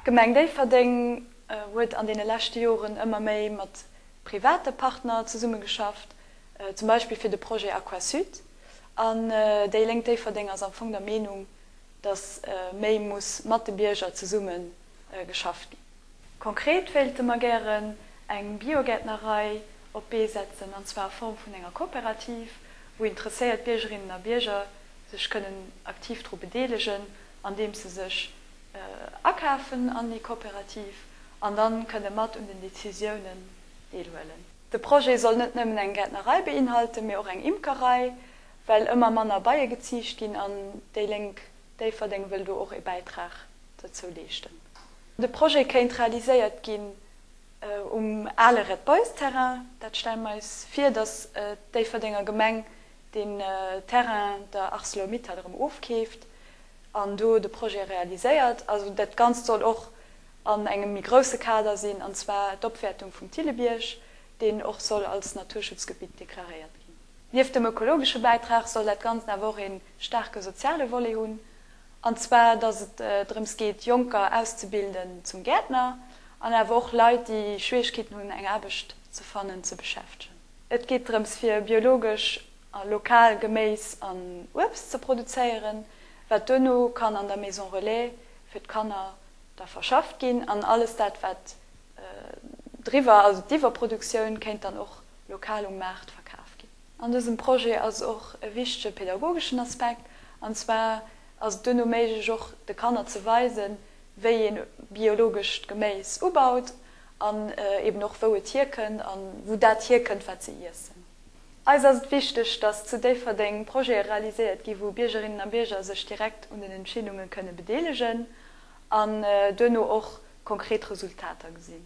D'Gemeng Déifferdeng huet an deene leschte Joren ëmmer méi mat private Partner zesummegeschafft, zum Beispill fir de Projet Aquasud. An déi Lénk Déifferdeng ass am Fong der Meenung, datt méi muss mat de Bierger zesumme geschafft ginn. Konkret wéilte mer gären eng Biogäertnerei op d'Bee setzen, an zwar a Form vun enger Kooperativ, wou interesséiert Biergerinnen a Bierger sech kënnen aktiv dru bedeelegen, andeems se sech akafen an déi Kooperativ an dann kënne mat un den Decisiounen deelhuelen. De Projet soll net nëmmen eng Gäertnerei beinhalten, mee och eng Imkerei, well ëmmer manner Beie geziicht ginn an déi Lénk Déifferdeng wëll do och ee Bäitrag dozou leeschten. De Projet kéint realiséiert ginn um ale Red Boys Terrain. Dat stelle mer eis vir, datt d'Déifferdenger Gemeng deen Terrain der Arcelor-Mittal erëm ofkeeft an do de Projet realiséiert. Also dat Ganzt soll och an engem méi grousse Kader sinn, an zwar d'Opwäertung vum Thillebierg, deen och soll als Naturschutzgebitt deklaréiert ginn. Nieft dem ökologesche Bäitrag soll dat Ganzt awer och ee staarke soziale Volet hunn. An zwar, dass et drëms geet, Jonker auszebilden zum Gäertner an awer och Leit, déi Schwieregkeeten hunn, eng Aarbecht ze fannen, ze beschäftegen. Et geet drëms, fir biologesch a lokal Geméis an Uebst ze produzéieren, wat duerno kann an der Maison Relais fir d'Kanner da verschafft ginn. An alles dat, wat driwwer, also d'Iwwerproduktioun, kéint dann och lokal um Maart verkaf ginn. An dësem Projet ass och e wichtege pedagogeschen Aspekt, an zwar ass et duerno méiglech och de Kanner ze weisen, wéi een biologescht Geméis ubaut an eben och wou et hierkënnt a wou dat hierkënnt wat se iessen. Eis ass et wichteg, dass zu Déifferdeng Projete realiséiert ginn, wou Biergerinnen a Bierger sech direkt un den Entscheedunge kënne bedeelegen an duerno och konkret Resultater gesinn.